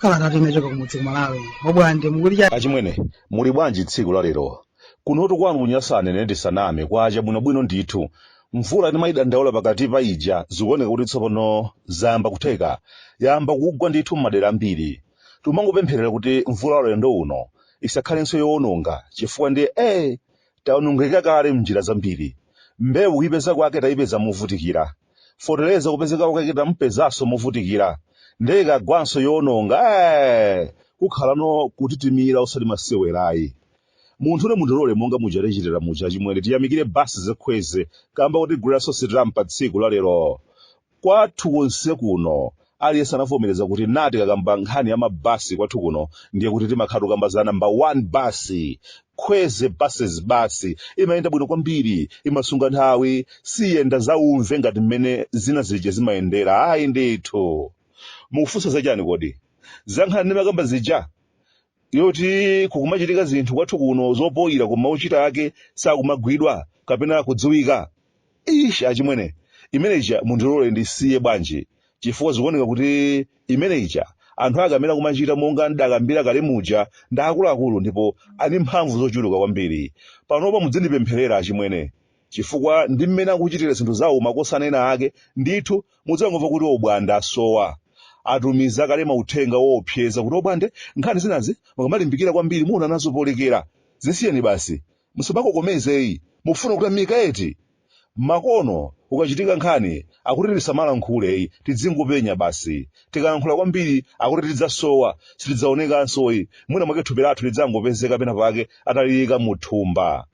kalata inachoka kumudzi kumalawi obwande achimwene muli bwanji tsiku la lero kunotu kwanu kunyasa nene ndisaname kwacha bwinobwino ndithu mvula timayidandaula pakati pa ija zikuoneka kuti tsopano zayamba kutheka yayamba kugwa ndithu m'madera ambiri Timangopempherera kuti mvula ulendo uno isakhalenso yowononga chifukwa ndiye ee tawonongeka kale m'njira zambiri. Mbewu kuipeza kwake taipeza movutikira, fotereza kupezeka kwake tamupezanso movutikira ndiye ikagwanso yowononga ee! Kukhalano kutitimira osati masewera ayi. Munthune mundilole monga muja tichitira muja achimwene tiyamikire basi za Khwezi kamba kotigulira sosetampa tsiku la lero. Kwathu konse kuno aliyense anavomereza kuti nde tikakamba nkhani ya mabasi kwathu kuno ndiye kuti timakhala tikukamba za namba 1 basi khwezi buses basi imayenda bwino kwambiri imasunga nthawi siyenda zaumve ngati mmene zina zija zimayendera ayi ndithu mukufunsa za chani kodi za nkhani ndimakamba zija yoti kukumachitika zinthu kwathu kuno zoipaipa koma ochita ake sakumagwidwa kapena kudziwika ish achimwene imene ija mundilole ndisiye bwanji chifukwa zikuoneka kuti imene ija anthu ake amene akumachita monga ndakambira kale muja ndi akuluakulu ndipo ali mphamvu zochuluka kwambiri panopa mudzindipempherera achimwene chifukwa ndi mmene akuchitira zinthu zawo makosana ena ake ndithu mudzangomva kuti obwande asowa atumiza kale mauthenga woopseza kuti obwande nkhani zinazi mukamalimbikira kwambiri muona nazo polekera zisiyeni basi musamakokomeze ayi mufuna kutamika eti makono kukachitika nkhani akuti tisamalankhule ayi tidzingopenya basi tikalankhula kwambiri akuti tidzasowa sitidzaonekanso ayi mwina mwake thupi lathu lidzangopezeka pena pake ataliyika muthumba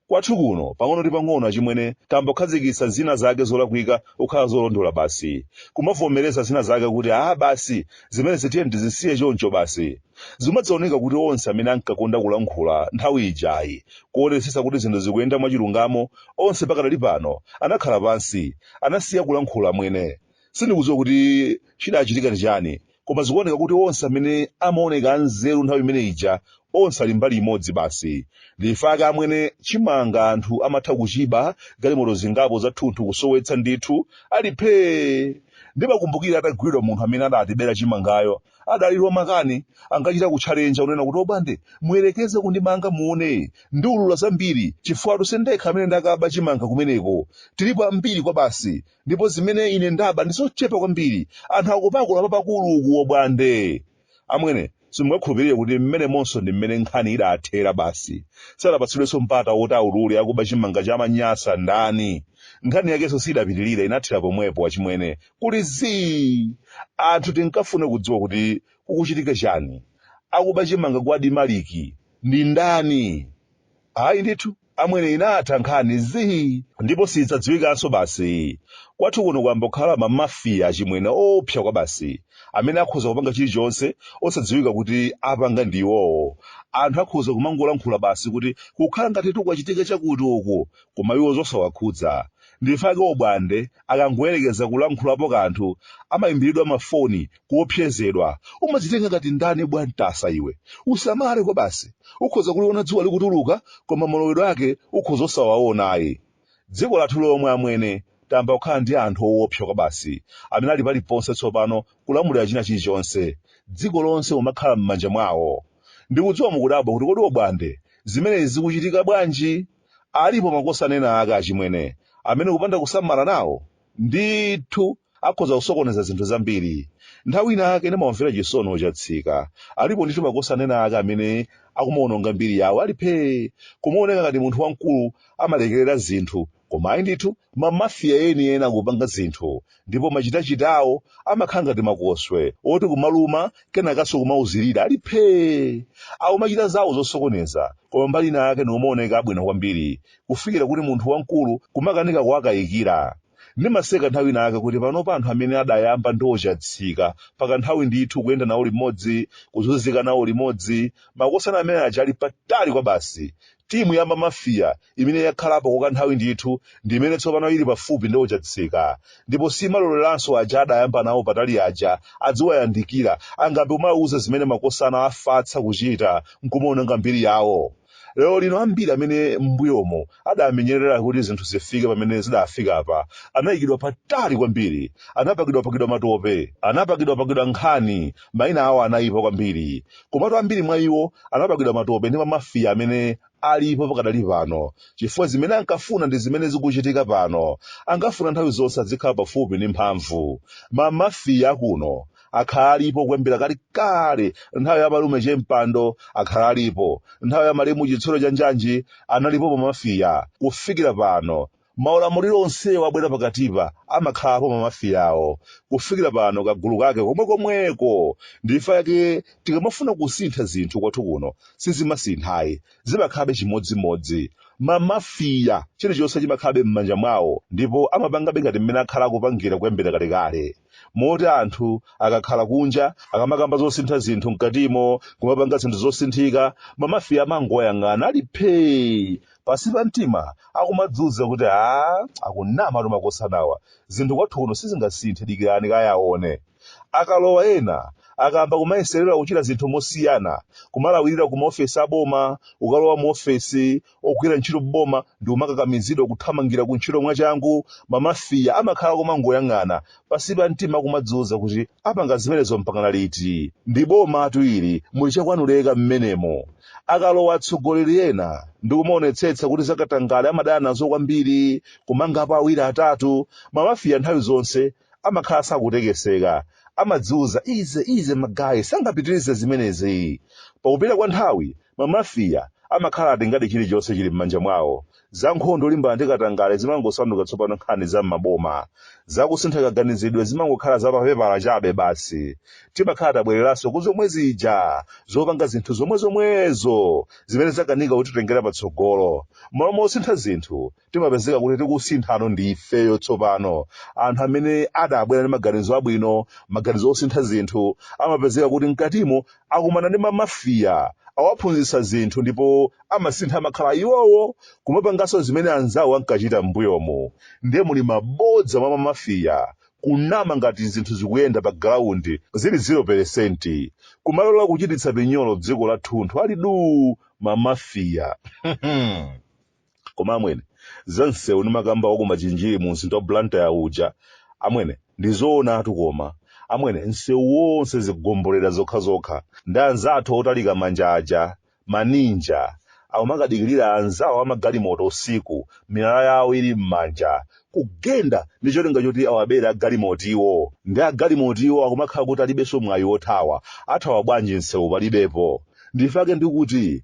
Kwathu kuno, pang'ono ndi pang'ono achimwene tayamba kukhazikitsa zina zake zolakwika kukhala zolondola basi. Kumavomereza zina zake kuti aah basi, zimenezi tiyeni tizisiye choncho basi. Zimadzaoneka kuti onse amene ankakonda kulankhula nthawi ija ayi, kuonetsetsa kuti zinthu zikuyenda mwachilungamo, onse pakadali pano anakhala pansi, anasiya kulankhula amwene. Sindikudziwa kuti chidachitika ndi chani Koma zikuoneka kuti onse amene amaoneka anzeru nthawi imene ija, onse ali mbali imodzi basi. Ndife ake amwene chimanga anthu amatha kuchiba, galimoto zingapo zathunthu kusowetsa ndithu, ali phee! Ndimakumbukira atagwidwa munthu amene adatibera chimangayo, adali wamakani, ankachita kutchalenja kunena kuti obwande, muyerekeze kundimanga muone, ndiulula zambiri, chifukwatu sindekha amene ndakaba chimanga kumeneko, tilipo ambiri kwabasi, ndipo zimene ine ndaba ndi zochepa kwambiri anthu akupakula papakulukulu obwande amwene simungakhulupirire kuti mmenemonso ndi mmene nkhani idathera basi sadapatsidwenso mpata woti aulule akuba chimanga cha manyasa ndani nkhani yakenso sidapitirira inathera pomwepo achimwene kuli zii anthu tinkafuna kudziwa kuti kukuchitika chani akuba chimanga kwa adimaliki ndi ndani ayi ndithu amwene inatha nkhani zii ndipo siidzadziwikanso basi kwathu kuno kwayamba kukhala ma mafia achimwene oopsa kwabasi amene akhoza kupanga chilichonse osadziwika kuti apanga ndi iwowo anthu akhoza kumangolankhula basi kuti kukhala ngati kwachitika chakuti uku koma iwo zosawakhudza ndifake obwande akangoyerekeza kulankhulapo kanthu amaimbiridwa mafoni kuopsezedwa umadzitenga ngati ndani bwa mtasa iwe usamale kwabasi ukhoza kuliona dzuwa likutuluka koma malowedwe ake ukhoza osawaona ayi dziko lathu lomwe amwene tayamba kukhala ndi anthu owopsa kwabasi amene ali paliponse tsopano kulamulira china chilichonse dziko lonse kumakhala m'manja mwawo ndikudziwa mukudabwa kuti kodi obwande zimenezi zikuchitika bwanji alipo makosana ena ake achimwene amene kupanda kusamala nawo ndithu akhoza kusokoneza zinthu zambiri nthawi inayake ndimawamvera chisoni ochatsika alipo ndithu makosana ena ake amene akumawononga mbiri yawo ali phee kumaoneka ngati munthu wamkulu amalekerera zinthu koma ayi ndithu mamafiya enieni akupanga zinthu ndipo machitachitawo amakhala ngati makoswe oti kumaluma kenakanso kumauzirira ali phee akumachita zawo zosokoneza koma mbali inayake nkumaoneka abwino kwambiri kufikira kuti munthu wamkulu kumakanika kuwakayikira ndimaseka nthawi ina yake kuti panopa anthu amene adayamba ndi ochatsika kwa kanthawi ndithu kuyenda nawo limodzi kuzunzika nawo limodzi makosana amene aja ali patali kwabasi timu ya mamafiya imene yakhalapo kwa kanthawi ndithu ndi imene tsopano ili pafupi ndi ochatsika ndipo siimaloleranso aja adayamba nawo patali aja adziwayandikira angambe kumawauza zimene makosana afasa kuchita nkumaononga mbiri yawo Lero lino ambiri amene m'mbuyomo adamenyerera kuti zinthu zifike pamene zidafika apa anayikidwa patali kwambiri, anapakidwapakidwa matope, anapakidwapakidwa nkhani, maina awo anayipa kwambiri. Komatu ambiri mwa iwo anapakidwa matope ndi mamafia amene alipo pakadali pano chifukwa zimene ankafuna ndi zimene zikuchitika pano. Ankafuna nthawi zonse adzikhala pafupi ndi mphamvu. Mamafia akuno akhala alipo kuyambira kalekale nthawi ya malume che mpando akhala alipo nthawi ya malemu chitsulo cha njanji analipo mamafiya kufikira pano maulamuliro onsewo abwera pakatipa amakhalapo mamafiyawo kufikira pano kagulu kake komwekomweko ndi chifukwa chake tikamafuna kusintha zinthu kwathu kuno sizimasinthayi zimakhalabe chimodzimodzi mamafiya chilichonse chimakhalabe m'manja mwawo ndipo amapangabe ngati mmene akhala akupangira kuyambira kalekale moti anthu akakhala kunja akamakamba zosintha zinthu mkatimo kumapanga zinthu zosinthika mamafiya amangowayang'ana ali phee pansi pa mtima akumadziuza kuti a akunamatu makosanawa zinthu kwathu kuno sizingasinthe dikirani kaye aone akalowa ena akayamba kumayeserera kuchita zinthu mosiyana kumalawirira ku maofesi aboma ukalowa mu ofesi ogwira ntchito m'boma ndi kumakakamizidwa kuthamangira ku ntchito mwachangu, mamafiya amakhala akumangoyang'ana pansi pa mtima akumadziuza kuti apanga zimenezo mpakana liti? Ndi bomatu ili, muli chakwanu leka mmenemo. Akalowa atsogoleri ena ndi kumaonetsetsa kuti zakatangale amadana nazo kwambiri, kumangapo awiri atatu, mamafiya nthawi zonse amakhala sakutekeseka, amadziuza easy easy magaye sangapitirize zimenezi. Pakupita kwa nthawi Mamafiya amakhala atengadi chilichonse chili m'manja mwawo. Za nkhondo yolimbana ndi katangale zimangosanduka tsopano nkhani za m'maboma. Za kusintha kaganizidwe zimangokhala za papepala chabe basi. Timakhala tabwereranso ku zomwe zija zopanga zinthu zomwezomwezo zimene zakanika kutitengera patsogolo. M'malo mosintha zinthu, timapezeka kuti tikusinthano ndi ifeyo tsopano anthu amene adabwera ndi maganizo abwino maganizo osintha zinthu amapezeka kuti mkatimo akumana ndi mamafiya awaphunzitsa zinthu ndipo amasintha amakhala iwowo kumapanganso zimene anzawo ankachita m'mbuyomu ndiye muli mabodza mwa mamafiya kunama ngati zinthu zikuyenda pa ground zili 0 peresenti kumalola kuchititsa pinyolo dziko lathunthu ali duu mamafiya koma amwene za msewu ndimakamba wa ku machinjiri mu mzinda wa blantyre uja amwene ndi zoonatu koma amwene msewu wonse zigombolera zokhazokha ndi anzathu otalika manja aja maninja akumakadikirira anzawo amagalimoto usiku miyala yawo ili m'manja kugenda ndi cholinga choti awabere agalimotiwo ndi agalimotiwo akumakhala kuti alibenso mwayi wothawa athawa bwanji msewu palibepo ndi chifukwa chake ndikuti